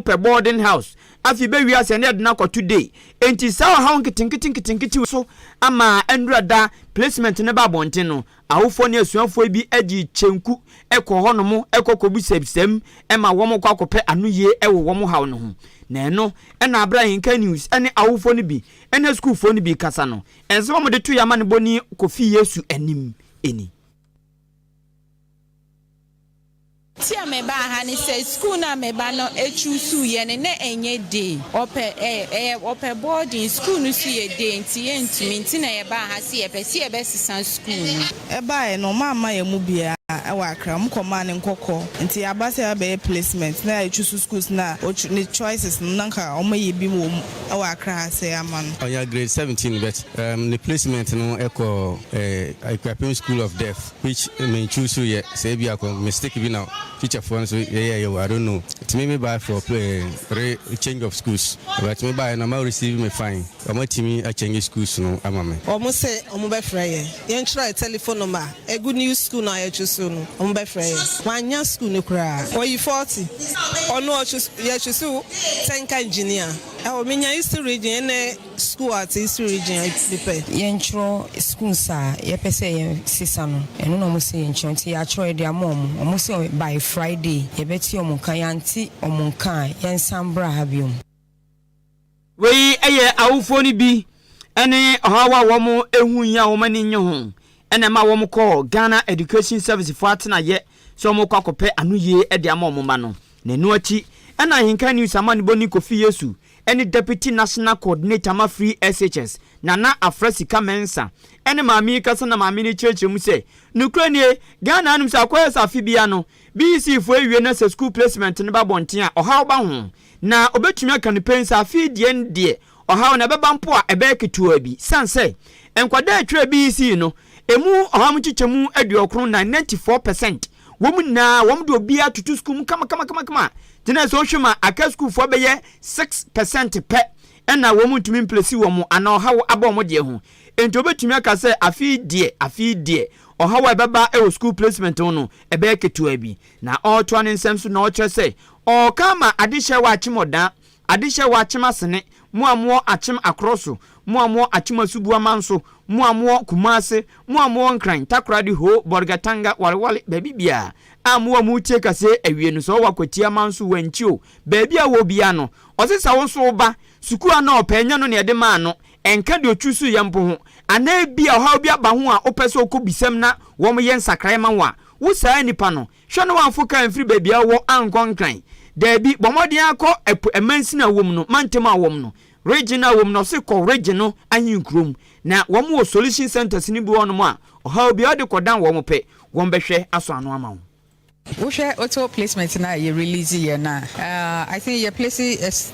pɛ boarding house afei bɛ wia sɛ ne ɛde no akɔ to day enti saa ɔhaw nketenkete nketenkete wei so ama ɛnura da placement no ba abɔnten no awofoɔ ne asuafoɔ bi gye kyenku kɔ hɔ nom kɔ kɔbu sɛbsɛm ma wɔn kɔ akɔpɛ ano yie wɔ wɔn haw no ho na ɛno ɛna abere a yɛnka news ɛne awofoɔ no bi ɛne sukuufoɔ no bi kasa no ɛnsɛ wɔn de to yɛ amanebɔ ni kɔfi yesu anim ɛni. Nti a mebaa ha ne sɛ sukuu no a me ba no ɛchuusuu yɛ no na ɛnyɛ day, ɔpɛ ɛ, ɛyɛ, ɔpɛ boarding, sukuu no nso yɛ day nti yɛntumi, nti na yɛbaa ha sɛ yɛpɛ sɛ yɛbɛsesa sukuu no. Ɛbaeɛ no wɔamma yɛn mu biara wɔ Accra, wɔkɔmaa no nkɔkɔ, nti yɛaba sɛ yɛbɛyɛ placement na yɛachuusu schools no a ɔch, ne choices no na nka wɔayi bi wɔ mu wɔ Accra ha sɛi ama no. Ɔnya grade seventeen but ɛɛm, ne placement no kɔɔ ɛɛ Akuapem School of Deaf. which me choose yɛ sɛ ebia kɔ mistake bi na teacher foɔ nso yɛyɛ yɛ wɔ I don't know nti me me bae for eh, re change of schools but me baeɛ no ɔmo a receive me fine ɔmo atumi a change schools no ama me. Ɔmo se ɔmo bɛfrɛ yɛn, yɛn twerɛ yɛ telephone number ɛgu new school no a yɛ choose no ɔmo bɛfrɛ yɛn, mannya school no koraa ɔyi forty ɔno ɔchoose yɛ choose Tenka engineer ɛwɔ me nya East region ɛnɛ. Sukuu a ɔtse East Region a etse pɛ. Yɛnkyerɛw schools a yɛpɛ sɛ yɛsesa no, ɛno na wɔse yɛnkyerɛw, nti yɛakyerɛw yɛde ama wɔn. Wɔse by Friday yɛbɛte wɔn nka, yɛante wɔn nka a yɛnsan mbra ha biom. Wei yɛ awofoɔ no bi ne ɔhaw a wɔn hu yi a wɔn ani nnye ho na ɛma wɔn kɔ Ghana Education Service foɔ atenaeɛ sɛ wɔn rekɔ akɔpɛ anoyie de ama wɔn mma no. Na ɛno akyi na Ahenka News amanebɔni Kofi Yesu ne Deputy National Coordinator ma Free SHS, Nana Afrah Sika Mensah, ne maame yi kasa na maame no kyerɛkyerɛ mu sɛ, Nokorɛ nie, Ghana anom sɛ akɔyɛ sɛ afe biara no, BEC foɔ awie na sɛ sukuu placement no ba abɔnten a, ɔhaw ba ho. Na ɔbɛtumi aka no pɛn sɛ afe yi deɛ no deɛ, ɔhaw no ɛbɛba mpo a, ɛbɛyɛ ketewa bi. Sane sɛ, nkwadaa a ɛtwerɛɛ BEC no, ɛmu ɔhaw mu nkyekyɛmu aduɔkron nan, 94 percent, Wɔn nyinaa, wɔde obiara toto sukuu mu kamakamakama. Gyinae sɛ wohwɛ ma aka sukuufo a ɛbɛyɛ six per cent pɛ na wɔntumi mplesi wɔn anaa ɔhaw aba wɔn deɛ ho. Enti wobɛtumi aka sɛ afe yi deɛ, afe yi deɛ, ɔhaw a ɛbɛba wɔ sukuu placement ho no, ɛbɛyɛ ketewa bi. Na ɔretoa ne nsɛm so na ɔrekyerɛ sɛ, Ɔreka ama adehyeɛ a wɔakyem ɔdan Adehyɛ wɔ Akyem Asene, mo a mowɔ Akyem Akorɔ so, mo a mowɔ Akyem Asuboa man so, mo a mowɔ Kumase, mo a mowɔ Nkran, Takoradi, Ho, Bolgatanga, Wareware, baabi biara a mowɔ a moretie kaseɛ awie no, sɛ wowɔ Akwatia man so, Wankyio, baabi a wowɔ biara no, ɔse sɛ wo so wo ba sukuu a na ɔpɛ nyɛ no na yɛde maa no, ɛnka deɛ ɔchuusuuiɛ mpo ho, anaa ebia ɔhaw bi aba ho a wopɛ sɛ wokɔ bisam na wɔyɛ nsakraeɛ ma wo a, wo saa nipa no, Hwɛ na w'amfo kar mfiri baabi a wowɔ ankɔ Nkran. Daabi, bɔ mmɔden ara kɔ ɛpo ɛmansin a wɔm no, mantam a wɔm no, region a wɔm no, ɔse kɔ region no ahenkuro mu na wɔm wɔ solution centers no bi wɔ hɔ nom a ɔhaw biara wode kɔ dan wɔm pɛ, wɔm bɛhwɛ asɔ ano ama wo. Wohwɛ auto placement no a yɛ release yɛ no a, I think yɛ place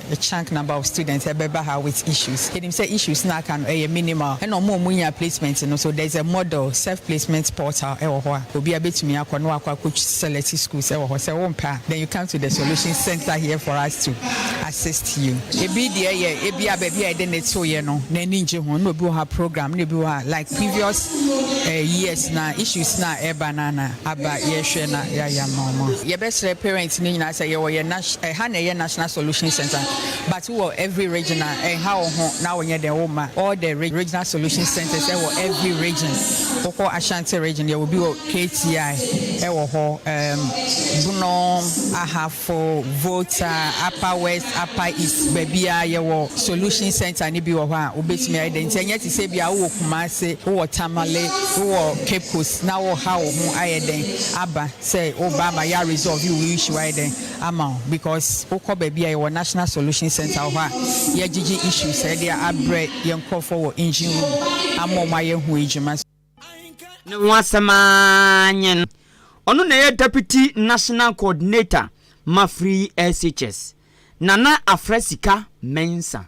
A chunk number of students ɛbɛba ha with issues. Yɛnim sɛ issues no a aka no ɛyɛ minimal. Ɛna wɔn a wɔnya placement no nso, there is a model self placement portal ɛwɔ hɔ a obiara bɛtumi akɔ na wakɔ akɔ select schools ɛwɔ hɔ. Sɛ wompɛ a, then you come to the solution centre here for us to assist you. Ɛbi deɛ yɛ ebia baabi a yɛde no toeɛ no n'ani ngye ho, na obi wɔ hɔ a program, na ebi wɔ hɔ a like previous eh years no a issues no a ɛba no a na. Aba yɛhwɛ na yɛayɛ ama wɔn a. Yɛbɛsrɛ parents no nyinaa sɛ yɛwɔ yɛn nas ɛha na ɛyɛ National Solution Centre but wowɔ every region a ɛnha wo ho na wonyɛ dɛn womma all the Regional Solution Centres ɛwɔ every region wokɔ Ashanti region yɛwɔ bi wɔ KTI ɛwɔ hɔ ɛɛm Bono Ahafo Kɔ Volta, Upper West, Upper East, baabiara yɛwɔ Solution Centre no bi wɔ hɔ a wobɛtumi ayɛ dɛn nti ɛnyɛ te sɛ bia wowɔ Kumase, wowɔ Tamale, wowɔ Cape Coast na woreha wo ho ayɛ dɛn aba sɛ woreba ama yɛ a resolve wo issue ayɛ dɛn ama wo because wokɔ baabi a yɛwɔ National Solution Centre wɔ hɔ a yɛgyegye issues a yɛde abrɛ yɛn nkorɔfoɔ wɔ engine room ama wɔn ayɛ ho adwuma. Ne ho asɛm ara nye no. Ɔno na ɛyɛ Deputy National Coordinator ma Free SHS. Nana Afrɛ Sika Mensah.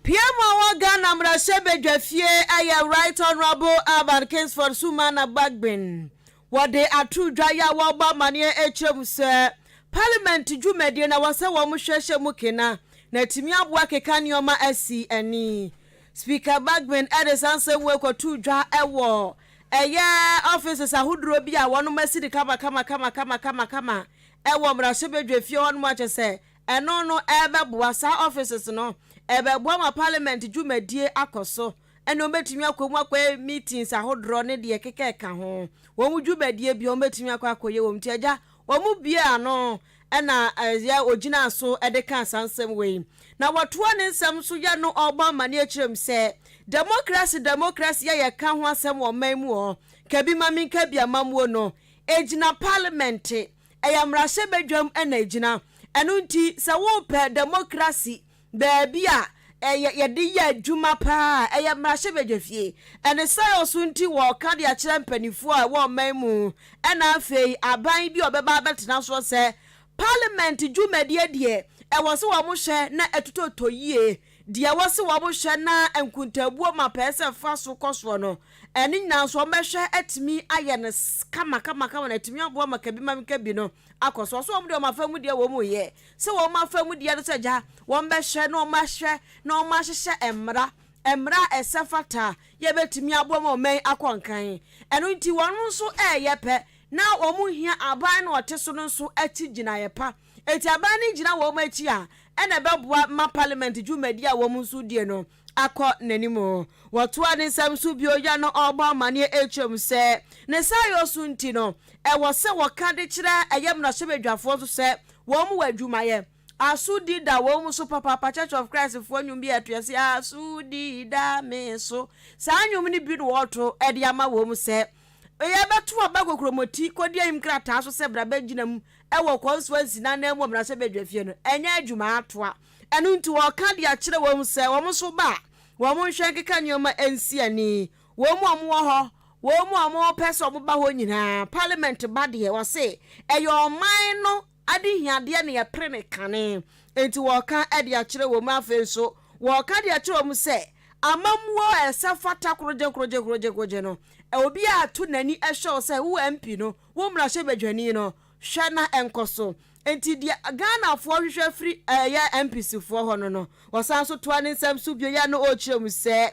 Pia mu a ɔwɔ Ghana mmarahyɛbadwafie yɛ Right Honourable Alvan Kingsford Sumana Bagbin. Wɔde ato dwa yi a wɔrebɔ amanneɛ rekyerɛ mu sɛ Parliament dwumadie na ɛwɔ sɛ wɔn hwɛ hyɛ mu kena na atumi aboa keka nneɛma asi ani. Speaker Bagbin de saa nsɛm wei kɔtoo dwa wɔ ɛyɛ offices ahodoɔ bi a wɔn asi no kamakamakamakama wɔ mmarahyɛbadwafie hɔ nom a kyerɛ sɛ ɛno no ɛrebɛboa saa offices no ɛrebɛboa ma Parliament dwumadie akɔ so. ɛne wɔn bɛtumi akɔ mu akɔyɛ meetings ahodoɔ ne deɛ ɛkeka ɛka ho. Wɔn dwumadie biara wɔn bɛtumi akɔ akɔyɛ wɔ mu. Nti Agya, wɔbuee ano ɛna yɛ ɔgyinaa so de kaa saa nsɛm wei. Na wɔtoaa ne nsɛm nso yɛ no ɔrebɔ amaneɛ kyerɛ mu sɛ, Democracy, democracy a yɛka ho asɛm wɔ ɔman mu hɔ, ka bi ma menka bi, amammuo no, ɛgyina parliament, ɛyɛ mmarahyɛbadwam na ɛgyina. Ɛno nti sɛ worepɛ democracy, Baabi a ɛyɛ yɛde yɛ adwuma paa a ɛyɛ mmarahyɛbadwafie. Ɛne saa yɛ ɔso nti wɔka de akyerɛ mpaninfoɔ a ɛwɔ ɔman mu ɛna afei aban bi a ɔbɛba abɛtena soɔ sɛ Parliament dwumadie deɛ ɛwɔ se wɔn hwɛ na ɛtotɔtɔ yie. Deɛ ɛwɔ se wɔn hwɛ na nkontaabuo ma pɛɛ sɛ ɛfa so kɔ soɔ no ɛno nyinaa nso wɔn bɛhwɛ atumi ayɛ no kamakamakama na atumi aboa ma kabimamkabi no akɔ so. Ɔso wɔn deɛ wɔn afa mu deɛ wɔn yɛ. sɛ wɔn afa mu deɛ no sɛ gya, wɔbɛhwɛ na wɔahwɛ na wɔahyehyɛ mmara, mmara a ɛsɛ fata a yɛbɛtumi aboa ma ɔman yi akɔ nkan. Ɛno nti wɔn nso reyɛ pɛ na wɔhia aban no a ɔte so no nso akyi gyinaeɛ pa. Enti aban no gyina wɔn akyi a, ɛna ɛbɛboa ma parliament dwumadie a wɔn nso die no. akɔ n'anim. Wɔtoaa ne nsɛm so bio yɛ no ɔrebɔ amanneɛ akyerɛ mu sɛ, ne saayɔ so nti no, ɛwɔ sɛ wɔka de kyerɛ ɛyɛ mmarahyɛbadwafoɔ nso sɛ wɔmmu adwumayɛ. Asodi da wɔn so papaapa Church of Christfoɔ nnwom bi a ɛto ase Asodi da me so Saa nnwom no bi na wɔreto de ama wɔn sɛ yɛbɛto aba kokuromoti kɔdi ahim krataa so sɛ bra bɛgyina mu wɔ Kɔnsua Nsinan Amu Mmarahyɛbadwafie no ɛnyɛ adwuma atoa Ɛno nti wɔka de akyerɛ wɔn mu sɛ, wɔn nso ba a, wɔnhwɛ nkeka nneɛma nsi ani. Wɔn mu a wɔwɔ hɔ, wɔn mu a wɔpɛ sɛ wɔba hɔ nyinaa, Parliament ba deɛ, wɔse ɛyɛ ɔman no adehiadeɛ na yɛpere no kane. Enti wɔka de akyerɛ wɔn mu. Afei nso, wɔka de akyerɛ wɔn mu sɛ, amammuo a ɛsɛ fata korogyekorogyekorogyekorogye no, obiara to n'ani hwɛ wo sɛ wo MP no, wo mmarahyɛbadwani no, hwɛ na ɛnkɔ so. Enti deɛ Ghanafoɔ hwehwɛ firi ɛyɛ MPC foɔ hɔ no no, ɔsan nso toa ne nsɛm so bio yɛ na ɔrekyerɛ mu sɛ,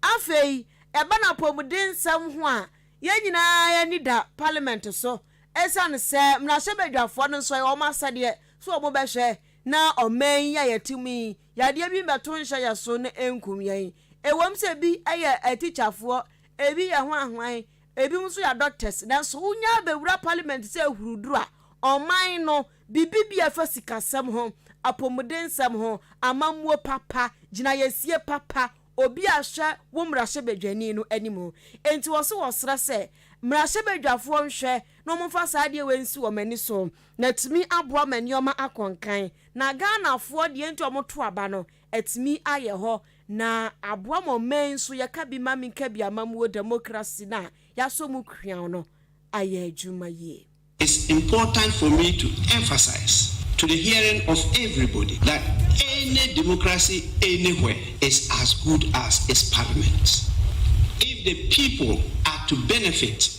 Afei, ɛba no apɔmuden nsɛm ho a, yɛn nyinaa yɛn ani da Parliament so ɛsiane sɛ mmarahyɛbadwafoɔ no nso ɛyɛ wɔn asɛdeɛ sɛ wɔn bɛhwɛ na ɔman yi a yɛte mu yi yadeɛ bi mmɛto nhyɛ yɛn so na ɛnkum yɛn. Ɛwom sɛ bi yɛ atikyafoɔ, ɛbi yɛ hwanhwan, Ebinom nso yɛ adɔktɛse nanso wonya bɛwura palimɛnte sɛ ahuruduru a ɔman no bibi bi a ɛfa sikasɛm ho, apɔmudensɛm ho, amammuo papa, gyinaeɛsie papa, obi a hwɛ wo mmarahyɛbadwani no anim. Enti wɔse wɔsrɛ sɛ mmarahyɛbadwafoɔ nhwɛ na wɔmfa saa adeɛ wei nsi wɔn ani so na atumi aboa ma nneɛma akɔ nkan. Na Ghanafoɔ deɛ enti wɔto aba no atumi ayɛ hɔ na aboa ma ɔman yi so yɛka bi ma me ka bi amammuo demokrasi no a yɛasɔ mu kweaw no ayɛ adwuma yie. It's important for me to emphasize to the hearing of everybody that any democracy anywhere is as good as its parliament. If the people are to benefit,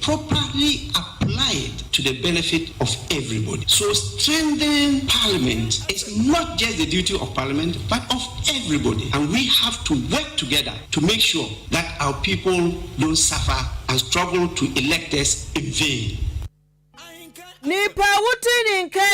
properly applied to the benefit of everybody. So strengthening parliament is not just the duty of parliament but of everybody and we have to work together to make sure that our people don't suffer and struggle to elect us in vain. Nipa a wodi ne nkan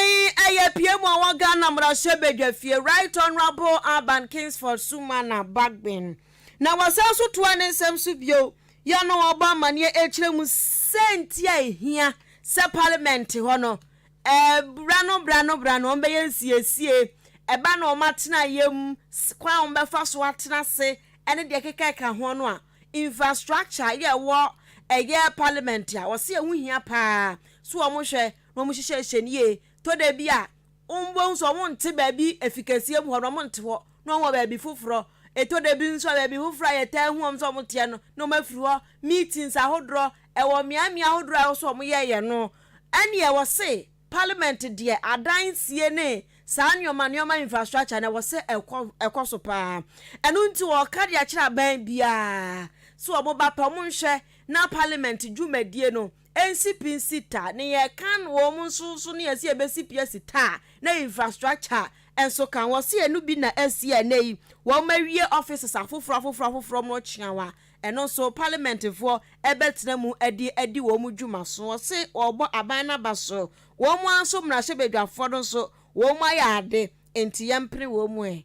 yi yɛ piamu a ɔwɔ Ghana mmarahyɛ badwafie, Right Honourable Alban Kingsford Sumana Bagbin, na wɔsan nso toa ne nsɛm so bio Yɛn a wɔrebɔ amanneɛ rekyerɛ mu sɛ nti a ehia sɛ Parliament hɔ no, bere ano bere ano bere ano wɔbɛyɛ nsiesie, ɛba no wɔn atenaeɛ mu, kwan a wɔbɛfa so atena ase ne deɛ ɛkeka ɛka ho no a, infrastructure yɛ ɛwɔ ɛyɛ Parliament a wɔse ɛho hia paa so wɔhwɛ na wɔhyehyɛ hyɛ no yie tɔ da bi a, Wombohu sɛ wɔnntse beebi efi kesie mu hɔ na wɔnntse hɔ na wɔwɔ beebi fofor? Etɔ da bi so a, beebi fofor a yɛtaa hu wɔn sɛ wɔtseɛ no, nna wɔafir hɔ. Meetings ahodoɔ, wɔ mmeaemmeae ahodoɔ a ɛwɔ sɛ wɔyɛeɛ no, ɛnneɛ wɔse Parliament deɛ adansie ne saa nneɛma nneɛma infrastructure no ɛwɔ sɛ ɛkɔ ɛkɔ so pa ara. Ɛno nti wɔreka de akyerɛ aban biara sɛ wɔba pɛ wɔnhwɛ na Parliament dwumadie no Ensi pi nsi ta ne yɛ kan wɔ ɔmo nso nso ne yɛ se yɛ bɛ si pi asi ta a ne infrastructure nso kan wɔ se yɛ no bi na asi a ɛnɛ yi wɔ ɔmo awie offices afoforɔ afoforɔ afoforɔ ɔmo kyeaw a ɛno nso parliament foɔ ɛbɛ tena mu adi adi wɔ ɔmo dwuma so wɔ se wɔ ɔbɔ aban no aba so wɔ ɔmo ara nso mmarahyɛbadwafoɔ no nso wɔ ɔmo ayɛ ade nti yɛ mpene wɔ ɔmo ɛ.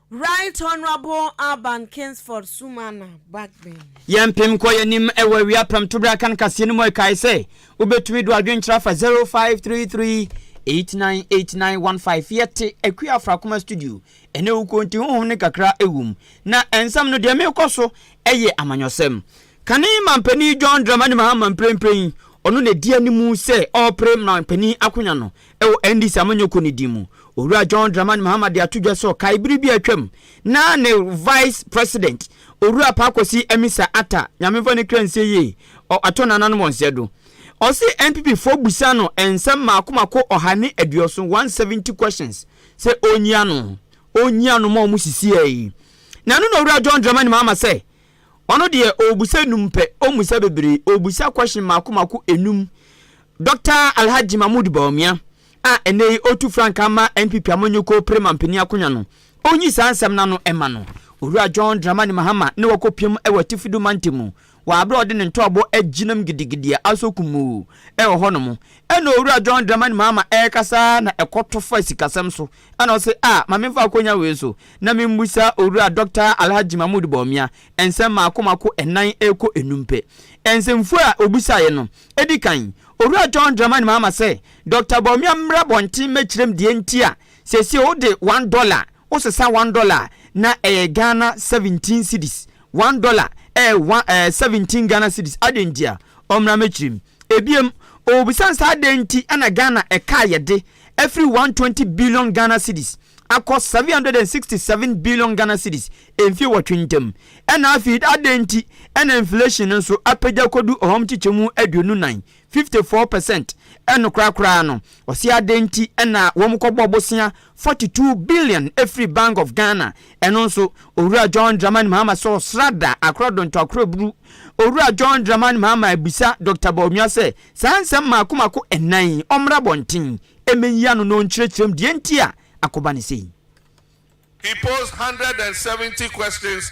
Right Honourable Alban Kingsford Sumana Bagbin. Yɛmpem nkɔ yɛn anim wɔ awia pɛm tobere akan kaseɛ no mu ɛkae sɛ wobɛtumi do adwenkyerɛ afa 0533898915 yɛte Akua Afrakoma studio ɛnɛ wukuo nti honhom no kakra ɛwom na ɛnsɛm no deɛ merekɔ so ɛyɛ amanyɔsɛm kane mampanin John Dramani Mahama mprempren ɔno na ɛdi anim sɛ ɔrepere mampanin akonwa no Wɔ NDC amanyɔkuo no din mu, Owura John Dramani Mahama de ato dwa sɛ ɔkae bere bi a atwam na ne Vice President, Owura Paa Kwasi Amissah Atta, Nyame mfa ne kra nsie yie, ɔ atɔ nananom wɔn sɛɛ do. Ɔse NPP foɔ bisa no nsɛm mako mako ɔha ne aduɔson, 170 questions, sɛ ɔnyi ano, ɔnyi ano ma wɔn sisiɛ yi. Na ɛno na Owura John Dramani Mahama sɛ Ɔno deɛ ɔɔbusa num pɛ ɔmmusa bebree ɔɔbusa question mako mako enum Doctor Alhaji Mahmood Bawumia a ɛnɛ yi ɔretu frankaa ma NPP amanyɔkuo pere mampanin akonwa no ɔnyi saa nsɛm no ano mma no Owura John Dramani Mahama ne wakɔ piam wɔ Atifi do Mantam mu wɔ aberɛ a ɔde ne ntɔɔbo agyinam gidigidi a asɔ kumuu wɔ hɔ nom ɛna Owura John Dramani Mahama ɛrekasa na ɛkɔtɔ fa sikasɛm so Ɛna ɔse a ma me mfa akonya wei so na me mmusa Owura Dɔkta Alhajji Mahmood Bawumia nsɛm maako maako ɛnan ɛrekɔ ɛnum pɛ. Nsɛmfua a ɔbusaeɛ no, ɛdi kan, Owura John Dramani Mahama sɛ, Dɔkta Bawumia mmra bɔnten mmɛkyerɛm deɛ nti a seesei wo de one dollar, wo sesa one dollar a na ɛyɛ Ghana seventeen cedis, one dollar ɛyɛ one ɛɛ seventeen Ghana cedis, adɛn nti a? Ɔmmra mmɛkyerɛm. Ebiem, ɔrebisa sɛ adɛn nti na Ghana ɛka a yɛde afiri 120 billion Ghana cedis akɔ 767 billion Ghana cedis mfie nwɔtwe ntam? Ɛna afei adɛn nti na inflation no nso apagya akɔdu ɔhɔm kyekyɛmu aduonu nan, 54 percent? Ɛno koraa koraa no, ɔse adɛn nti na wɔkɔbɔ bosea Forty two billion ɛfiri Bank of Ghana ɛno nso Owura John Dramani Mahama sɛ ɔsrada akorɔ donto akorɔ buru. Owura John Dramani Mahama abisa Doctor Bawumia sɛ saa nsɛm mmaako mmaako nnan yi ɔmmra abɔnten mmɛyi ano na ɔnkyerɛkyerɛ mu deɛ nti a akoba no sei. He posed hundred and seventy questions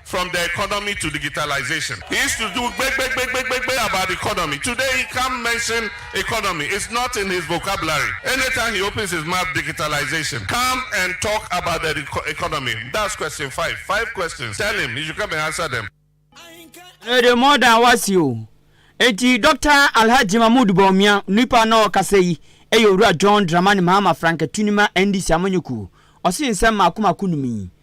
from the economy to digitalization. He used to do gbegbegbegbegbegbe about economy, today he can't mention economy, it's not in his vocabulary, anytime he opens his mouth digitalization, come and talk about the economy, that's question five, five questions, tell him he should come and answer them. Ɛyɛ de more than wasi o. Enti Doctor Alhaji Mahmood Bawumia, nipa na ɔɔkasa yi, yɛ Owura John Dramani Mahama Frank Atunima NDC Amanyɔkuo. Ɔse nsɛm mmaako mmaako num yi,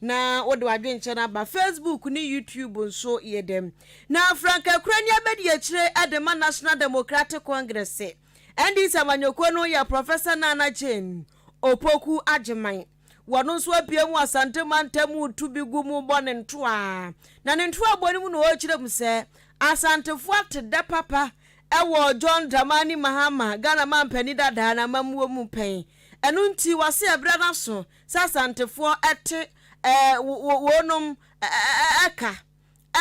Na wode w'adwenkyɛ no aba Facebook ne YouTube nso yɛ dɛn? Na frankaa kura ni abɛdi akyire de ma National Democratic Congress, NDC amanyɔkuo no yɛ Professor Nana Jane Opoku Agyemang. Ɔno nso apue mu Asante mantam retu bi gu mu rebɔ ne ntoa. Na ne ntoabɔ no mu na ɔrekyerɛ mu sɛ Asantefoɔ ate dɛ papa wɔ John Dramani Mahama, Ghana mampanin dada, n'amammuo mu pɛn. Ɛno nti, wase abira n'aso sɛ Asantefoɔ te wɔnom ka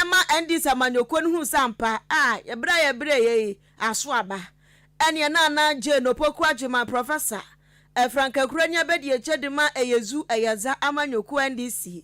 ma NDC amanyɔkuo no hunu sɛ ampa a brɛ a yɛbrɛeɛ yi aso aba. Ɛneɛ na na Jane Opoku Agyemang Prɔfɛsa Frankakurani abɛdi akyire de ma Eyezu Eyaza amanyɔkuo NDC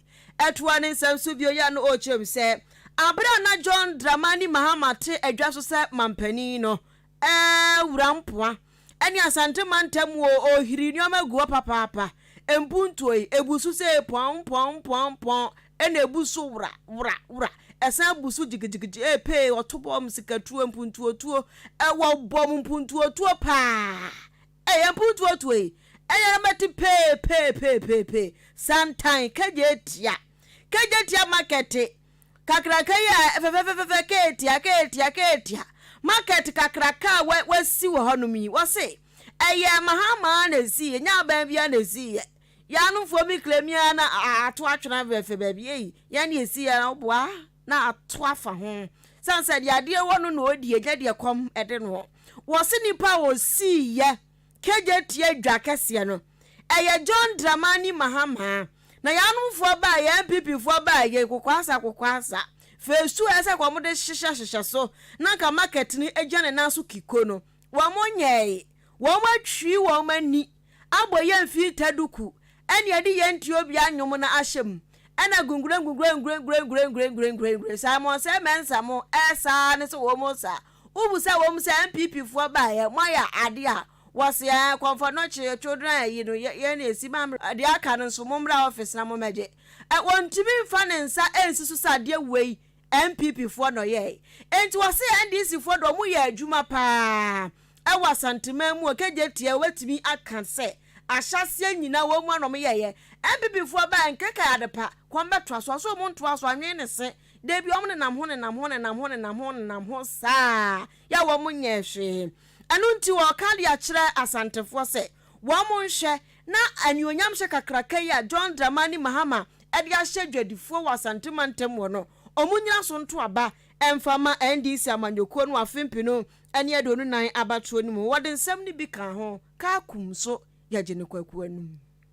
toa ne nsɛm so bio yi a na ɔrekyerɛ mu sɛ aberɛ a na John Dramani Mahama te adwa so sɛ mampanin no Ɛɛ wura mpoa ɛne asante mantam o ohiri nneɛma gu hɔ papaapa mpuntuo yi ebu so sei pɔn pɔn pɔn pɔn ɛna ebu so wura wura wura ɛsan bu so gyigyigyigyi ee pee ɔto bɔm sikatuo mpuntuotuo ɛwɔ bɔm mpuntuotuo paa ɛyɛ mpuntuotuo yi ɛyɛ mɛte pee pee pee pee pee santan kagye tia kagye tia makɛte kakraka yi a fɛfɛfɛfɛfɛ keetia keetia keetia market kakraka a wasi wɔ hɔnom yi wɔse ɛyɛ mahamaa na esii ɛnyɛ aban biara na esii yɛ yɛanomfoɔ mi kla mi ara na ato atwena fɛfɛ baabi ei yɛn na esii yɛ na woboa na ato afa ho sane sɛ deɛ adeɛ wɔ no na ɔdi ɛnyɛ deɛ kɔm ɛde no wɔse nipa a ɔsii yɛ Kegye tua dwa kɛseɛ no ɛyɛ John Dramani Mahama na yɛanom foɔ baa yɛ NPP foɔ baa yɛ kokoasa kokoasa phase two ɛsɛ ka wɔn de hyehyɛ hyehyɛ so na nka market no ɛgyina ne nan so kiko no wɔn nyɛɛe wɔn atwi wɔn ani abɔ yɛ mfiita duku ɛne ɛde yɛ nti obi anwom no ahyɛ mu ɛna gungurengungurengurengurengurengurengurengurengure Simon sɛ mɛnsa mo ɛsaa ne sɛ wɔn sa Wobu sɛ ɛwɔ mu sɛ NPP foɔ baeɛ moayɛ adeɛ a wɔse ɛɛ kɔmfɔ nɔkye children ayi no yei na ɛsi ma mmra deɛ aka no nso mommra office na mommɛgye ɛ wɔntumi mfa ne nsa nsi so sɛ adeɛ wei NPP foɔ na ɔyɛɛe enti wɔse NDC foɔ deɛ wɔn yɛ adwuma paa ɛwɔ Asanteman mu Okegye teɛ wobɛtumi aka sɛ ahyɛaseɛ nyina wɔn a na wɔyɛɛyɛ NPP foɔ baeɛ nkekai adepa kɔn bɛtoa so ɔse wɔn ntoa so anwene ne se Da bi wɔn nenam ho nenam ho nenam ho nenam ho nenam ho saa yɛ wɔn nyɛ hwee. Ɛno nti wɔka de akyerɛ Asantefoɔ sɛ wɔn nhwɛ na anuonyamhyɛ kakraka yi a John Dramani Mahama de ahyɛ Dwadifoɔ wɔ Asante mantam hɔ no wɔn nyina so nto aba mfa ma NDC amanyɔkuo no afe mpenu ne aduonu nan abatoɔ no mu. Wɔde nsɛm no bi kaa ho, Kaakum nso yɛgye no Kwaku anom.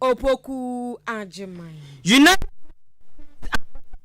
Opoku Agyemang. United Nations Ambassador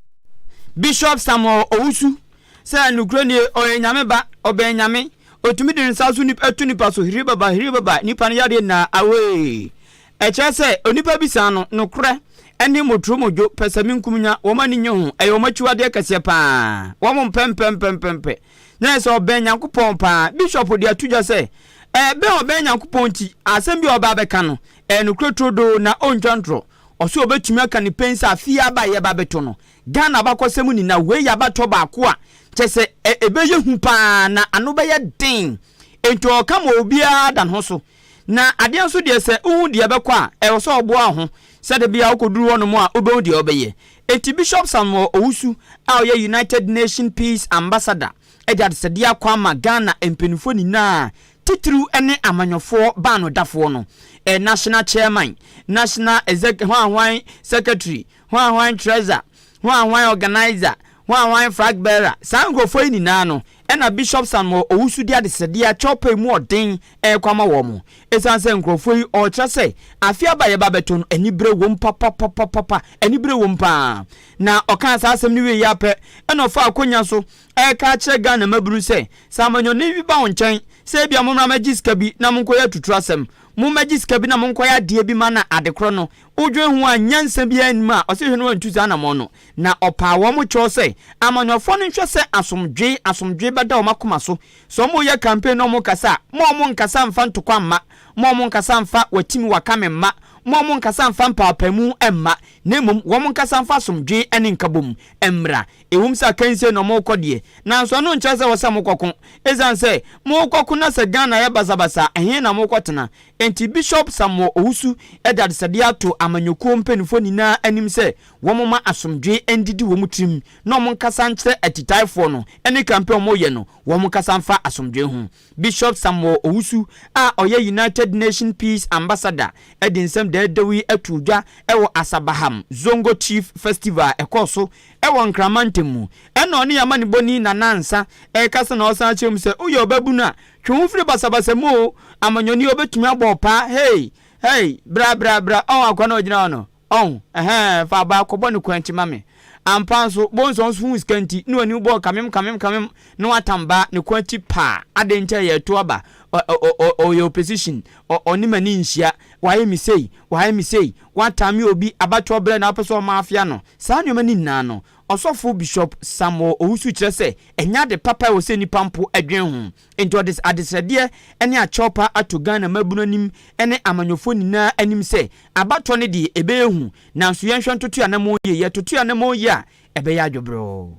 Bishop Samuel Owusu sɛ nokorɛ nie ɔyɛ Nyame ba, ɔbɛn Nyame, ɔtumi de ne nsa so nip to nipa so hiribaba hiribaba nipa no yadeɛ nyinaa away. Ɛkyerɛ sɛ onipa bisaa no nokorɛ ɛne motoro modwo pɛsɛmenkumnya wɔn ani nnye ho ɛyɛ wɔn akyiwadeɛ kɛseɛ paa wɔn mpɛ mpɛ mpɛ mpɛ mpɛ na ɛyɛ sɛ ɔbɛn Nyankopɔn paa Bishop de ato dwa sɛ ɛbɛn ɔbɛn Nyankopɔn nti asɛm bi a ɔba abɛka no Ɛyɛ nokorɛ turodoo na ɔntwa ntorɔ. Ɔse ɔbɛtumi aka no pen sɛ afe yi aba a yɛba bɛto no Ghana abakɔsɛm ni na wei yɛ abatoɔ baako a kyerɛ sɛ ɛbɛyɛ hu paa na ano bɛyɛ den enti ɔreka ma obiara da ne ho so na adeɛ nso deɛ sɛ wohu deɛ ɛbɛkɔ a ɛwɔ sɛ ɔboa wo ho sɛ da bi a wokɔduru hɔnom a wobɛhu deɛ wobɛyɛ enti Bishop Samuel Owusu a ɔyɛ United Nation Peace Ambassador de adesɛdeɛ akɔ ama Ghana mpaninfoɔ nyinaa titiriw ne amanyɔfoɔ baanodafoɔ no, ɛ national chairman, national exec hwanhwan secretary, hwanhwan treasurer, hwanhwan organiser, hwanhwan flag bearer, saa nkurɔfoɔ yi nyinaa no na Bishop Samuel Owusu de adesrɛdeɛ akyɛ ɔpɛ emu ɔden rekɔ ama wɔn. Ɛsiane sɛ nkurɔfoɔ yi wɔkyerɛ sɛ afe aba a yɛba abɛto no anibere wom papapapapa, anibere wom pa ara, na ɔkaa saa asɛm no wieeɛ ara pɛ na ɔfaa akonnwa so reka akyerɛ Ghana mmabunu sɛ, sɛ amanyɔne bi ba wo nkyɛn sɛ ebia mommra mmɛgye sika bi na monkɔyɛ atuturasɛm, mommɛgye sika bi na monkɔyɛ adeɛ bi ma na adekorɔ no, wodwen ho a nyansa biara nnim a, ɔse hwɛ na wantu saa anamɔn no. Na ɔpaa wɔn kyɛw sɛ amanyɔfoɔ no nhwɛ sɛ asomdwee, asomdwee bɛda wɔn akoma so. Sɛ wɔreyɛ campaign na wɔrekasa a, mma wɔnnkasa mmfa ntokwa mma, mma wɔnnkasa mmfa watimi wakame mma, mma wɔnnkasa mmfa mpaapaemu mma, na mmom wɔnnkasa mfa asomdwee ne nkabom mmra. Ɛwom sɛ akansie na wɔrekɔ deɛ, nanso ɛno nkyerɛ sɛ ɛwɔ sɛ mokɔko. Ɛsiane sɛ morekɔko na sɛ Ghana yɛ basabasa a, ɛhe na mokɔtena? Enti Bishop Samuel Owusu de adesɛdeɛ ato amanyɔkuo mpanimfoɔ nyinaa anim sɛ wɔmma asomdwoeɛ ndidi wɔn tirim na wɔnkasa nkyerɛ atitaefoɔ no ne campaign a wɔreyɛ no, wɔnkasa mfa asomdwoeɛ ho. Bishop Samuel Owusu a ɔyɛ United Nation Peace Ambassador de nsɛm dɛɛdɛw yi too dwa wɔ Asabaham Zongo Chief Festival a ɛkɔɔ so wɔ Nkrama ntam mu. Ɛna ɔne yɛn amanebɔni Nana Ansa rekasa na ɔsan kyerɛ mu sɛ, Woyɛ ɔbabunu a, twe wo ho firi basabasa mu o, amanyɔni obetumi abɔ wo paa, hey, hey, bra, bra, bra, ɔho akoa no a ogyina hɔ no. Ɔn, ɛhɛɛ, fa abaa kɔbɔ no kwanti ma me. Ampa nso, Bonsɔn so huu sika nti, na ɔne wo bɔɔ kamem kamem kamem, na watam baa ne kwanti paa. Adɛn nti a yɛreto aba? Ɔ, ɔ, ɔ, ɔ, ɔyɛ opposition. Ɔ, ɔne m'ani nhyia. Wayɛ me sei, wayɛ me sei. Watam me obi, abatoɔ berɛ na wopɛ sɛ ɔma afea no. Saa nneɛma no nyinaa no, Ɔsɔfo Bishop Samuel Owusu kyerɛ sɛ ɛnyɛ ade papa a ɛwɔ sɛ nnipa mpo dwen ho. Enti ɔde adesrɛdeɛ ne akyɛwpa ato Ghana mmabunu anim ne amanyɔfoɔ nyinaa anim sɛ, abatoɔ no deɛ ɛbɛyɛ hu, nanso yɛnhwɛ ntoto anamɔn yie, yɛtoto anamɔn yie a, ɛbɛyɛ adwobroo.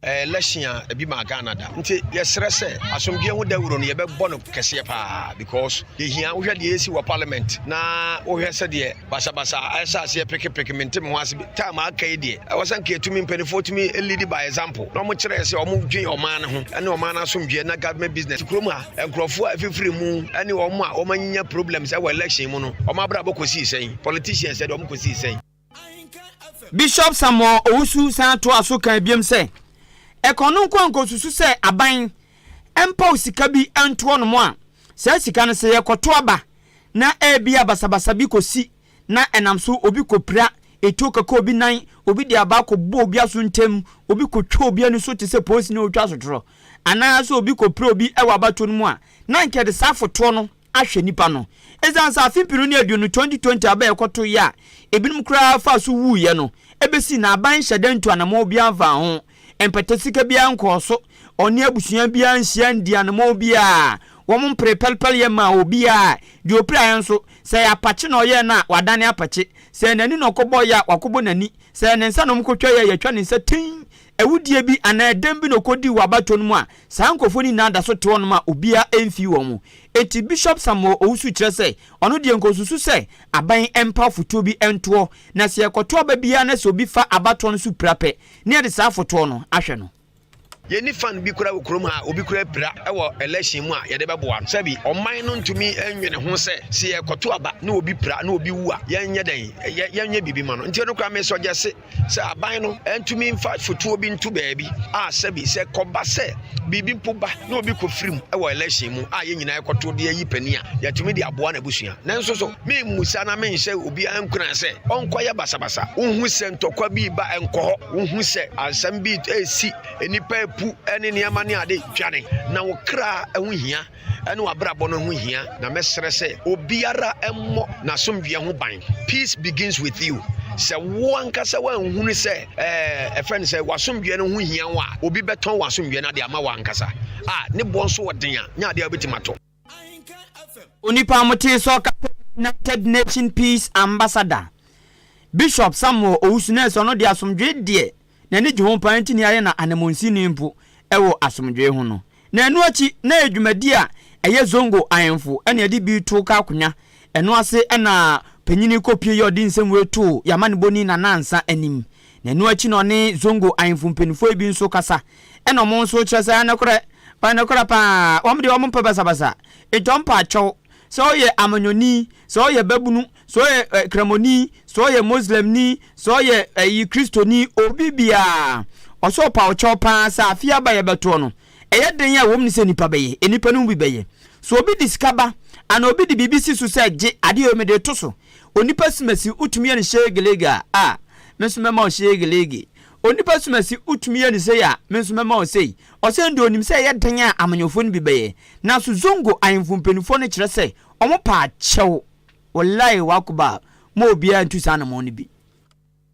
Election a ebi maa Ghana da nti yɛsrɛ sɛ asomdwoeɛ ho dawuro no yɛbɛbɔ no kɛseɛ paa because Yehia wohwɛ deɛ ɛresi wɔ parliament na wohwɛ sɛdeɛ basabasa ɛhyɛ aseɛ pekepeke mente me ho ase bi time aka yi deɛ ɛwɔ sɛ nka ɛtumi mpanimfoɔ tumi lead by example na wɔkyerɛ sɛ wɔn dwen ɔman no ho ɛne ɔman no asomdwoeɛ na government business kurom a nkurɔfoɔ a ɛfifiri mu ɛne wɔn a wɔanya problems ɛwɔ election mu no wɔn abrabɔ kɔsii sɛn politicians ɛde wɔn kɔsii sɛn Bishop Samuel Owusu san toa so kaa biom sɛ, Ɛkɔn no nkoa nkosusu sɛ aban mpaw sika bi nto hɔnom a, saa sika no sɛ yɛkɔto aba na ebia basabasa bi kosi na ɛnam so obi kopira etuo keka obi nan, obi de abaa kɔbɔ obi aso ntam, obi kotwa obi ani so te sɛ polisini a ɔretwa asotorɔ, anaa sɛ obi kopira obi wɔ abatoɔ no mu a, na anka yɛde saa afotoɔ no. ahwɛ nnipa no. Esiane sɛ afe mpenu ne aduonu, 2020, aba a ɛkɔtoeɛ a ebinom koraa faa so wuiɛ no bɛsi na aban nhyɛ da ntu anammɔn biara mfaa ho, mpata sika biara nkɔɔ so, ɔne abusua biara anhyia andii anammɔn biara, wɔmpree pɛlepɛleyɛ mmaa obiara a deɛ ɔpiraeɛ nso, sɛ ɛyɛ apakye na ɔyɛɛ no a, wadane apakye, sɛ ɛyɛ n'ani na ɔkɔbɔeɛ a, wakɔbɔ n'ani, sɛ ɛyɛ ne nsa na wɔkɔtwaeɛ a, yɛatwa ne nsa tinn. Awudie bi anaa dɛm bi na ɔkɔdii wɔ abatoɔ no mu a, saa nkorɔfoɔ no nyinaa da so te hɔnom a obiara ɛmfii wɔn. Enti Bishop Samuel Owusu kyerɛ sɛ, ɔno deɛ nka ɔsusu sɛ aban mpa afotuo bi ntoɔ, na sɛ yɛkɔto aba biara na sɛ obi fa abatoɔ no so pira pɛ, na yɛde saa afotoɔ no ahwɛ no. Yɛnni fan bi koraa wɔ kurom ha a obi koraa apira wɔ election mu a yɛde bɛboa no. Sɛbi ɔman no ntumi nnwene ho sɛ, sɛ yɛkɔto aba na obi pira na obi wu a, yɛnyɛ dɛn? Yɛnyɛ biribi ma no? Nti ɛno koraa mesɔgyɛse. sɛ aban no ntumi mfa fotuo bi nto baabi a sɛbi sɛ kɔba sɛ biribi mpo ba na obi kɔfiri mu wɔ election mu a yɛn nyinaa ɛkɔto de ayi panin a yɛatumi de aboa no abusua nanso so memmusa na menhyɛ obiara nkuna sɛ ɔnkɔyɛ basabasa wohu sɛ ntɔkwa bi ba ɛnkɔ hɔ wohu sɛ asɛm bi ɛsi nnipa apu ne nneɛma ne ade dwane na wo kra ɛho hia ne w'abrabɔ no ho hia, na mɛsrɛ sɛ obiara mmɔ n'asomdwoeɛ ho ban. Peace begins with you. Sɛ wo ankasa woanhunu sɛ ɛɛ ɛfrɛ no sɛ w'asomdwoeɛ no ho hia wo a, obi bɛtɔn w'asomdwoeɛ no ade ama wo ankasa. A, ne boɔ nso wɔ den a, nyɛ adeɛ a wobɛtumi atɔ. Onipa a motee sɛ ɔka sɛ ɔyɛ United Nations Peace Ambassador, Bishop Samuel Owusu-Nelson no de asomdwoeɛ deɛ n'ani gye ho paa nti na yɛayɛ no ananmunsini mpo wɔ asomdwoe ho no. Na ɛno akyi, na ɛyɛ dwumadi a ɛyɛ Zongo ahemfo na ɛde bi to ka akonya. Ɛno ase na Panyini Kopie yɛ ɔde nsɛm wei too yɛn amanebɔni Nana Ansah anim. Na ɛno akyi na ɔne Zongo ahemfo mpanyinfoɔ bi nso kasa na wɔn nso kyerɛ sɛ nokorɛ, ɔyɛ nokorɛ paa, wɔn deɛ wɔmpɛ basabasa. Enti ɔmpɛ akyɛw. Sɛ woyɛ amanyɔni, sɛ woyɛ babunu, sɛ ɔyɛ ɛ kramoni sɛ ɔyɛ muslimni sɛ ɔyɛ ɛyi kristoni obi biara ɔsɛ ɔpa ɔkyɛw paa sɛ afe aba yɛbɛtoɔ no ɛyɛ den a ɛwɔ mu ne sɛ nipa bɛyɛ nnipa no mu bi bɛyɛ so obi de sika ba ana obi de biribi si so sɛ gye adeɛ yɛ mede to so onipa simasi wotumi yɛ no shegelege a a me nso mɛma wo shegelege onipa simasi wotumi yɛ no sei a me nso mɛma wo sei ɔsɛn de onim sɛ ɛyɛ den a amanyɔfoɔ no bi bɛyɛ nanso zongo ahemfo mpanimfoɔ no kyerɛ sɛ wɔn paa kyɛw Walayi wakuba ma obiara ntu saa anamɔn no bi.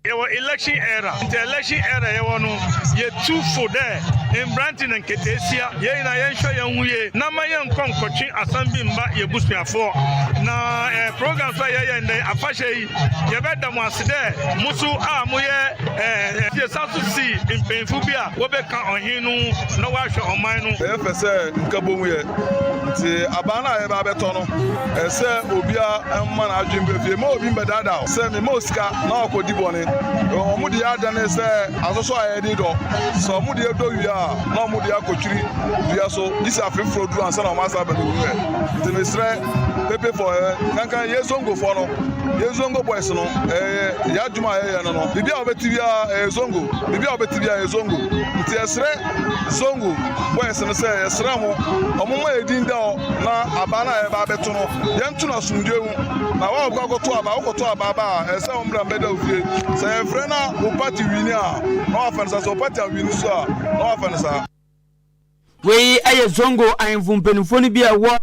Yɛwɔ election era ntsi election era yɛwɔ no yetu fo dɛ mberantsɛ na nketseesia yɛn nyinaa yɛnhwɛ yɛnho yie na mma yɛnnkɔ nnkɔtwe asɛm bi mma y'ebusuafoɔ na ɛɛ program so a yɛyɛ ndɛ yi afahyɛ yi yɛbɛda mo ase dɛ mo so a moyɛ ɛɛ yɛsan so si mpanyinfo bi a wɔbɛka ɔhen no ho na wɔahwɛ ɔman no. Yɛyɛ pɛ sɛ nka bohu yɛ nti aban no a yɛba abɛtɔ no. ɛsɛ obiara mma n'adwene bɛ fie ma obi mbɛdaadaa o sɛ mema osika na wakɔdi bɔne wɔn deɛ adane sɛ asosɔ a yɛde dɔ sɛ wɔn deɛ dɔ wie a na wɔn deɛ akɔtwiri dua so gye sɛ afe foforɔ duru ansa na wɔn asa aba no wuɛ nti mesrɛ pepe fɔ ɛ kankan yɛ zongofoɔ no yɛ zongo boys no ɛyɛ yɛ adwuma a yɛyɛ no no biribi a wɔbɛte biara ɛyɛ zongo biribi a wɔbɛte biara ɛyɛ zongo nti ɛsrɛ Zongo boys no sɛ yɛsrɛ mo ɔmo ma yɛ din da hɔ na abaa no a yɛba abɛto no yɛnto no asomdwoe mu na wa ɔkɔ akɔto abaa wokɔto abaa ba a ɛsɛ wɔn bra mbɛda ofie sɛ yɛfrɛ na wo party wini a na wafa no saa sɛ wo party awini so a na wafa no saa. Wei yɛ Zongo ahemfo mpanimfoɔ no bi a ɛwɔ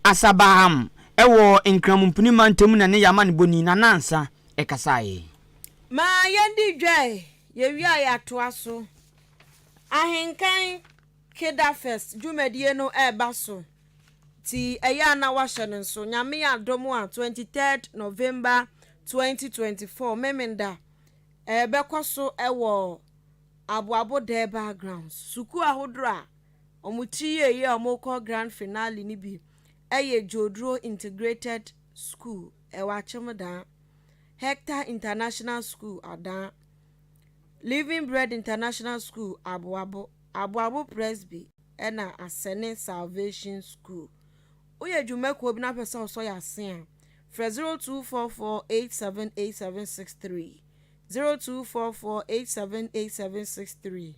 Asabaham wɔ Nkramompini mantam na ɛne yɛn amanebɔni Nana Ansah kasaeɛ. Ma yɛndi dwae, yɛwie a yɛatoa so. Ahenkan Kidderfest dwumadie no reba so nti ɛyɛ a na woahyɛ no nso. Nyame adom a twenty third November twenty twenty four Memenda ɛrebɛkɔ so wɔ Aboabo Durbar Grounds. Sukuu ahodoɔ a wɔte yie yi a wɔrekɔ Grand Finale no bi yɛ Dwoduro Integrated School, ɛwɔ Akyemdaa, Hector International School, Adaa, Living Bread International School Aboabo, Aboabo Presby na Asɛne Salvation School. Woyɛ dwuma kuo bi na wopɛ sɛ ɔsɔ yɛ ase a, frɛ 0244878763, 0244878763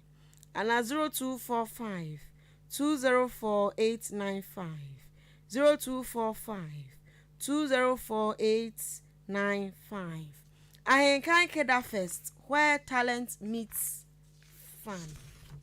anaa 0245204895, 02452048. Nine five, Ahenka Nkeda Fest where talent meets fun.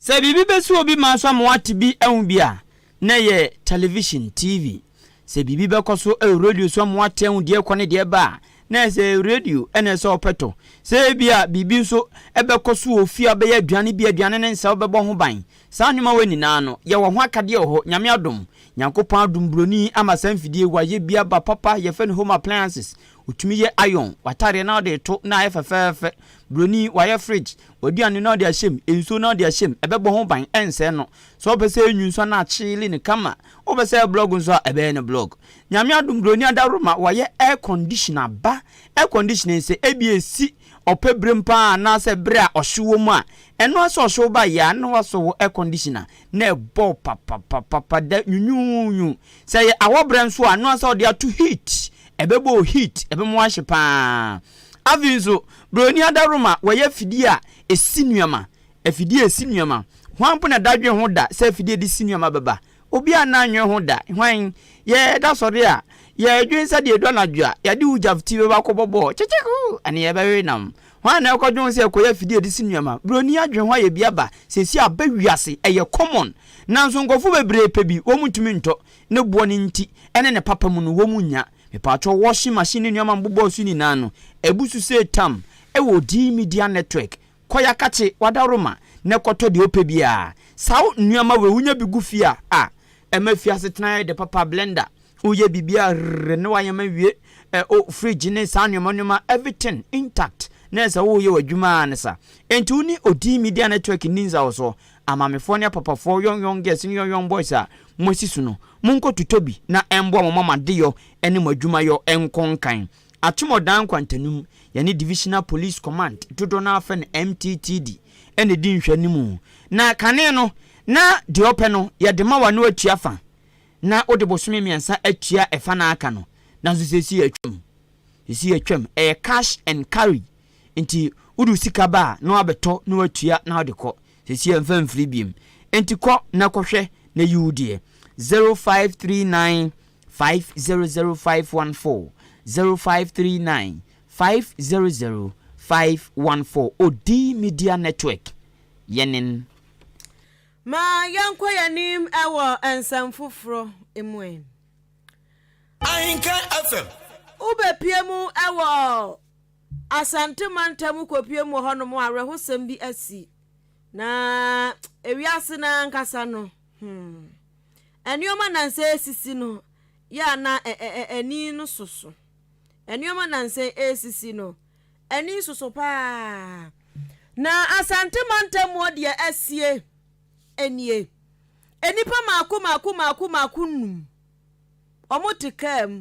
Sɛ biribi bɛsi obi ma nso ama wate bi ahu bi a, na ɛyɛ television, TV. Sɛ biribi bɛkɔ so wɔ radio so ama wate ahu deɛ ɛrekɔ ne deɛ ɛreba a, na ɛyɛ sɛ radio na ɛsɛ sɛ wopɛ tɔ. Sɛ ebia biribi nso bɛkɔ so wɔ fie a wobɛyɛ aduane bi a aduane no nsɛ a wobɛbɔ ho ban. Saa nnomawa nyinaa no, yɛwɔ ho akadeɛ wɔ hɔ, Nyame adom. Nyankopɔn adom broni ama saa mfidie wa yɛ bi aba papa, yɛfrɛ no home appliances. Wotumi yɛ iron, w'atadeɛ na wode reto na ayɛ fɛfɛɛfɛ. Broni, wayɛ fridge, w'aduane na wode ahyɛ mu, nsuo na wode ahyɛ mu, ɛbɛbɔ ho ban, ɛnsɛe no. Sɛ wopɛ sɛ ɛnwu nso a na akyeele no kama. Wopɛ sɛ ɛyɛ blog nso a, ɛbɛyɛ no blog. Nyame adom broni adaworoma, wayɛ air conditioner ba. Air conditioner yi, sɛ ebia ɛsi Ɔpɛ birim paa anaasɛ bere a ɔhyew wɔ mu a, ɛno ara sɛ ɔhyew ba yɛ a na wasɔ wo air conditioner na ɛbɔ papapapapa da nwunwuunwuu. Sɛ ɛyɛ awɔberɛ nso a, ɛno ara sɛ wode ato heat, ɛbɛbɔ wo heat, ɛbɛma woahye paa. Afei nso, buroni adaworoma, wɔyɛ afidie a ɛsi nneɛma, afidie a ɛsi nneɛma. Hwan mpo na dadwen ho da sɛ afidie a ɛde si nneɛma bɛba Obi a na nnwen ho da, hwan? Yɛ da sɔre a, yɛ dwen sɛ deɛ ɛdu anadwo a, yɛde wo gyafti bɛba akɔbɔ bɔɔl, kyekyekoo! ɛne yɛbɛwe nam. Hwan na ɛkɔ dwen ho sɛ ɛkɔyɛ afidie a yɛde si nnuama? Broni adwen ho ayɛ bi aba, seesei aba wiase, ɛyɛ common. Nanso nkorɔfoɔ bebree pɛ bi, wɔn ntumi ntɔ, ne boɔ no nti, ɛne ne papa mu no, wɔn nnya. Mepaatwɔ washing machine ne nnuama mbobɔɔ so nyinaa no, ɛbu so sɛ tam, ɛwɔ Dee Media Network, Kɔ yɛakakye w'adaworoma na kɔtɔ deɛ wopɛ biara. Saa wo nnuama wei wonya bi gu fie a ah ɛma fie asetena yɛ dɛ papa blender woyɛ biribiara rrrr ne wayam awie eh oh fridge ne saa nnoɔma nnoɔma everything intact na ɛsɛ woyɛ w'adwuma ara ne sa enti wo ne odii media network nni nsawɔsoɔ amaamefoɔ ne apapafoɔ young young girls ne young young boys a moasi su no monkɔ totɔ bi na ɛmboa mo ma mo adeyɔ ne mo adwumayɔ nkɔ nkan. Atomɔdan nkwantanim, yɛne Divisional Police Command, dodoɔ no ara frɛ no MTTD, na ɛdi nhwɛanim. Na kane no, na deɛ ɔpɛ no, yɛde ma wo na woatua fa, na wode bosome mmiɛnsa atua fa no a aka no. Nanso seesei yɛatwam. Seesei yɛatwam. Ɛyɛ cash and carry. Enti wode wo sika ba a, na woabɛtɔ na woatua na wode kɔ. Seesei yɛmfa mfiri bio. Enti kɔ na kɔhwɛ na yi wo deɛ. 0539 five zero zero five one four zero five three nine five zero zero five one four Odii Media Network yɛnen. Ma yɛnkɔ yɛn anim wɔ nsɛm foforɔ mu ɛ. Ahenka FM. Wobɛpue mu wɔ Asante mantam wokɔpue mu wɔ hɔnom a awerɛhosɛm bi asi na ewiase no ankasa no hmm. Nneɛma nansa esisi no yɛ a na ani no soso. Nneɛma nansa esisi no, ani soso paa. Na Asante mantam mu deɛ asie nie. Nnipa mako mako mako mako nnum, wɔte kaa mu,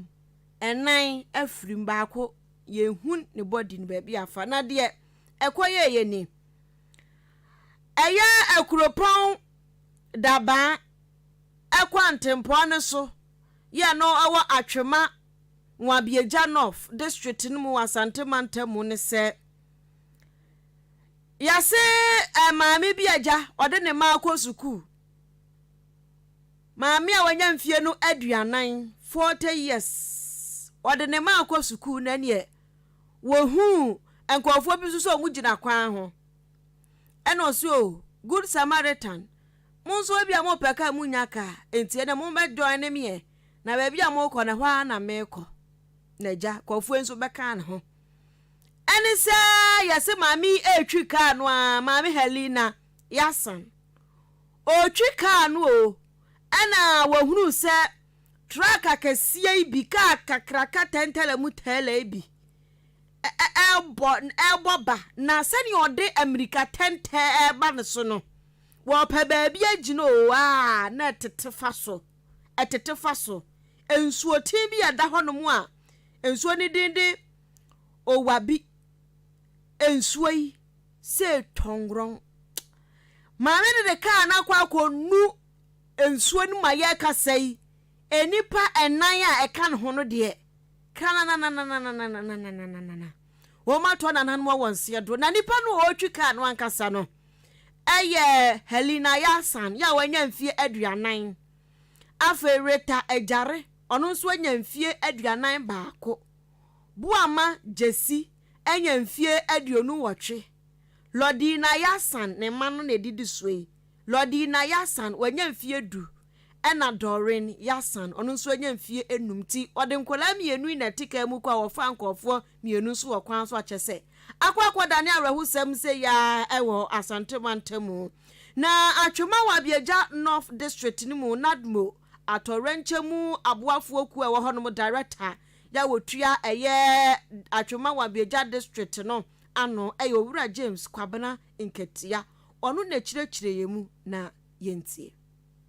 nnan afiri mu, baako yɛnhu ne bɔdi no baabi afa. Na deɛ ɛkɔyɛeɛ ni. Ɛyɛ akuropɔn Dabaa, ɛkɔ ntempɔn no so yɛ no wɔ Atwema, Nwabia-Gya North District no mu wɔ Asante Mantam mu ne sɛ, Yɛse maame bi agya ɔde ne mma rekɔ sukuu, maame a wanya mfeɛ no aduanan, 40 years, ɔde ne mma rekɔ sukuu na neɛ wɔhuu nkurɔfoɔ bi nso sɛ wɔgyina kwan ho. Ɛna ɔse o good Samaritan mo nso ebia mo pɛ car mo nya car enti ɛnɛ mo bɛ join me ɛ na baabi a mo kɔ no ɛhɔ ara na me kɔ na agya Kɔfoe nso bɛ kaa ne ho ɛne sɛ yɛse maame yi ɛretwi car no a maame Helena yasan ɔretwi car no o ɛna wɔhunu sɛ truck akɛseɛ yi bi car kakraka tɛntɛlɛ mu tɛɛlɛ yi bi rebɔ rebɔ ba, na sɛnea ɔde mmirika tɛntɛn reba ne so no, wɔpɛ baabi agyina oo, a na ɛtete fa so, ɛtete fa so. Nsuoten bi a ɛda hɔnom a nsuo no din de Owabi. Nsuo yi sɛ tɔngrɔn. Maame no de kaa no akɔ akɔnu nsuo no mu a yɛrekasa yi. Nnipa nnan a ɛka ne ho no deɛ, krananana, wɔato anananom wɔ nseɛ do, na nipa no a ɔretwi kaa no ankasa no yɛ Helena Yasan, yɛ a wanya mfeɛ aduanan. Afei Rita Ajare, ɔno nso anya mfeɛ aduanan baako. Boama Gyasi anya mfeɛ aduonu nwɔtwe. Lordina Yasan, ne mma no na ɛdidi soɔ yi, Lordina Yasan, wanya mfeɛ du, Ɛna Doreen Yasan, ɔno nso anya mfeɛ nnum nti ɔde nkwadaa mmienu yi na ɛte kaa mu kɔ a wɔfaa nkorɔfoɔ mmienu nso wɔ kwan so akyɛ sɛ akɔ akɔdane awerɛhosɛm sei ara wɔ Asante mantamu na Atwema wɔ Abieja North District no mu Nadmo Atɔwrɛnkyɛm mu aboafoɔ kuo a ɛwɔ hɔnom Director yɛ a ɔtua ɛyɛ Atwema wɔ Abieja District no ano yɛ Owura James Kwabena Nketia ɔno na ɛkyirɛkyirɛɛ yɛn mu na yɛntie.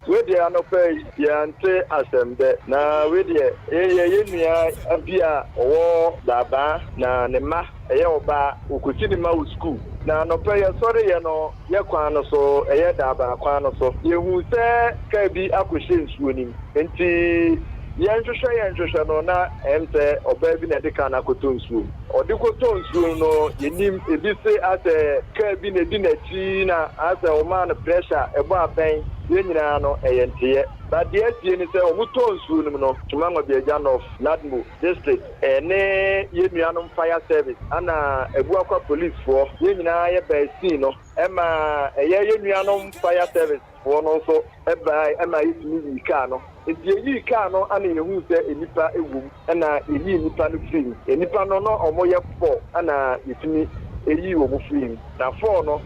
Wedeɛ anɔpa yi yɛante asɛm dɛ na wei deɛ yɛyɛ yɛn nua bi a ɔwɔ Daabaa na ne mma ɛyɛ ɔbaa ɔkɔsi ne mma wɔ sukuu na anɔpa yi yɛsɔreeɛ no yɛ kwan no so ɛyɛ Daabaa kwan no so yɛhuu sɛ kaa bi akɔhyɛ nsuo no mu nti yɛnhwehwɛ yɛnhwehwɛ no na ɛm sɛ ɔbaa bi na ɛde kaa no akɔtɔ nsuo mu ɔde kɔtɔɔ nsuo no no yɛnim ɛbi se asɛ kaa bi na ɛdi n'akyi. Pii na ayɛ sɛ wɔmaa no pressure a ɛbɔ abɛn yɛn nyinaa no, ɛyɛ nteyɛ. But deɛ asie ne sɛ wɔn tɔɔ nsuo nom no, Tuma Ngwabiagya North, Nadmo, District, ɛne yɛn nuanom Fire Service ɛna Abuakwa Police foɔ, yɛn nyinaa yɛ bɛɛ scene no, ɛma ɛyɛ yɛn nuanom Fire Service, foɔ no nso baae ɛmaa yɛtumi yii kaa no. Nti yɛyii kaa no ɛna yɛhuu sɛ nnipa wɔ mu ɛna yɛyii nnipa no firii mu. Nnipa no na wɔyɛ four ɛna yɛtumi yii wɔn firii mu. Na four no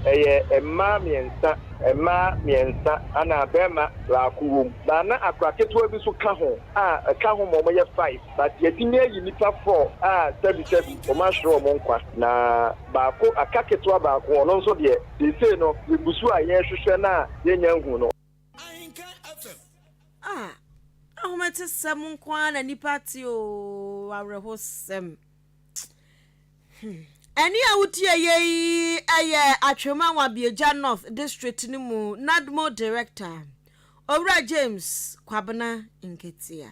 ɛyɛ mmaa mmiɛnsa. Mmaa mmiɛnsa ɛna barima baako wɔ mu. But na akora ketewa bi nso ka ho a ɛka ho ma wɔyɛ five. But yɛtumi ayi nnipa four a sɛbi sɛbi wɔahyere wɔn nkwa. Na baako aka ketewa baako ɔno nso deɛ. Seesei no, yegu so a yɛrehwehwɛ no a yɛanya ahu no. A, ahometesɛm nko ara na nnipa te oo, awerɛhosɛm. Hmm. Ɛne a wotie yɛ yi yɛ Atwema Wabiagya North District no mu NADMO Director, Owura James Kwabena Nketia.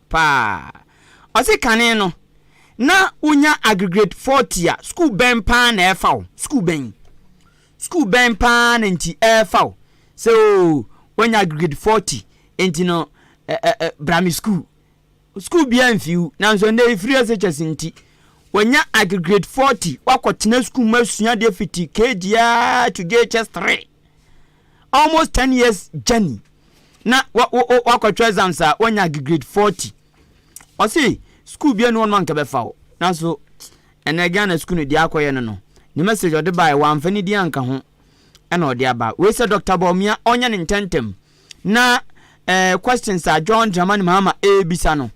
paa. Ɔse kane no na wonya agregrade forty a sukuu bɛn paa na ɛfa wo, sukuu bɛn, sukuu bɛn paa na nti ɛfa wo sɛ oo woanya agregrade forty nti no ɛ ɛ ɛ bra me sukuu. Sukuu biara mfi wo nanso nnɛ efiri SHS nti wanya agregrade forty wakɔtena sukuu mu asua deɛ fiti KG a to JHS three almost ten years journey. na wa wo wo wakɔtwerɛ exams a wanya grade forty ɔse school bia ni hɔ nom a nka bɛfa wo nanso ɛnɛ Ghana school no deɛ akɔyɛ no no ne message ɔde baeɛ wamfa ne din anka ho ɛna ɔde aba wei sɛ Dr. Bawumia ɔnyɛ ne ntɛntɛm na eh, questions a John Dramani Mahama ɛrebisa no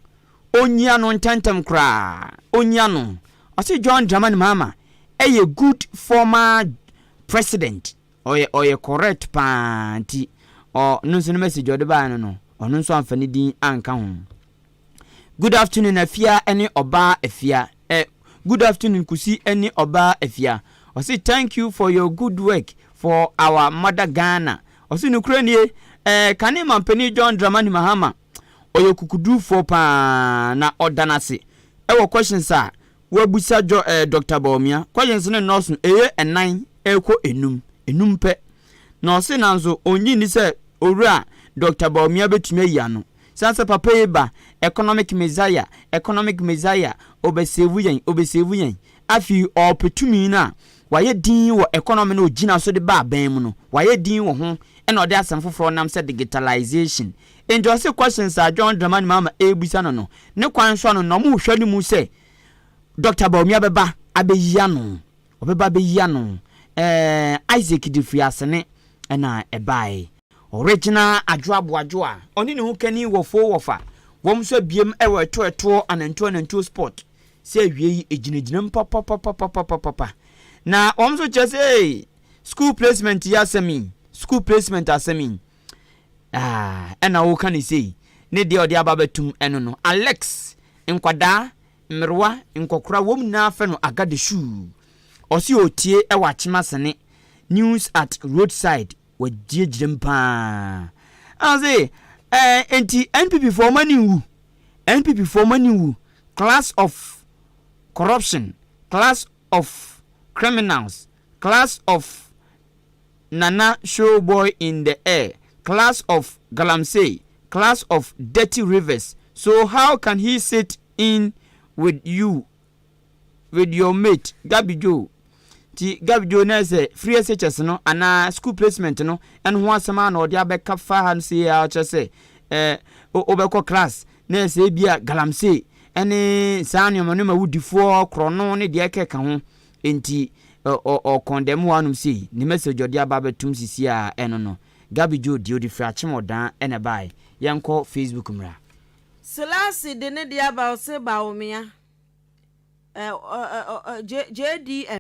ɔnyia no ntɛntɛm koraa ɔnyia no ɔse John Dramani Mahama ɛyɛ good former president Ɔyɛ ɔyɛ correct paa nti ɔ no nso no message ɔde baeɛ no no ɔno nso amfa ne din anka ho. Good afternoon Afia ne ɔbaa Afia eh good afternoon Kusi ne ɔbaa Afia ɔse thank you for your good work for our mother Ghana ɔse nokorɛ nie eh kane mampanin John Dramani Mahama ɔyɛ okukudurufoɔ paa na ɔda no ase wɔ questions a W'abusa djɔ eh Doctor Bawumia kɔ yɛnse ne nurse no ɛyɛ ɛnan ɛrekɔ ɛnum, ɛnum pɛ na ɔse nanso ɔnnye nni sɛ Owura Doctor Bawumia bɛtumi ayi ano sane sɛ papa yi ba economic messiah, economic messiah, ɔbɛsave yɛn, ɔbɛsave yɛn afei ɔɔpɛ tumi no a wayɛ din wɔ economy no a ɔgyina so de ba abɛn mu no wayɛ din wɔ ho ɛna ɔde asɛm foforɔ nam sɛ digitalization Enti ɔse questions a John Dramani Mahama ɛrebisa no no, ne kwan so ano na wɔrehwɛ no mu sɛ Doctor Bawumia bɛba abɛyi ano. Ɔbɛba abɛyi ano. Ɛɛɛ Isaac Dafiri Asene na ɛbaeɛ. Ɔregyina Adwo Aboadwo a ɔne ne ho kani wɔ Foo Wɔfa, wɔn nso abiem wɔ Ɛtoɔ Ɛtoɔ Anantuo Anantuo Spot sɛ awiei ɛgyinagyinam papapapapapapa. Na wɔn nso kyerɛ sɛ ee, school placement yi asɛm yi, school placement asɛm yi, Ah, ɛna woka no sei, ne deɛ ɔde aba abɛtom ɛno no. Alex, nkwadaa, mmerewa, nkɔkora, wɔn nyinaa fɛ no Agadeshuu. Ɔse ɔretie wɔ Achemasene, news at roadside, wagyinagyinam paa. Ɛna ɔse, eh, enti NPP foɔ wɔn ani nwu, NPP foɔ wɔn ani nwu, class of corruption, class of criminals, Class of Nana Showboy in the air, class of Galamsey, class of Dirty Rivers, so how can he sit in with you with your mate Gabi Joe? Nti Gabi Joe na sɛ free SHS no anaa school placement no ɛno ho asɛm ara na ɔde abɛka fa ha no sei ara kyerɛ sɛ eh, wobɛkɔ class na sɛ ebia Galamsey ɛne saa nneɛma nneɛma wudifoɔ korɔno ne deɛ ɛkeka ho Enti ɔ ɔ ɔkɔn dɛm waa nom sei, ne message ɔde aba abɛtom sisi a ɛno no. Gabi Joe deɛ ɔde firi Akyem Ɔdaa ɛna ɛbaeɛ. Yɛnkɔ Facebook mmra. Selasi de ne deɛ aba ɔse Bawumia eh ɔ ɔ ɔ JDM.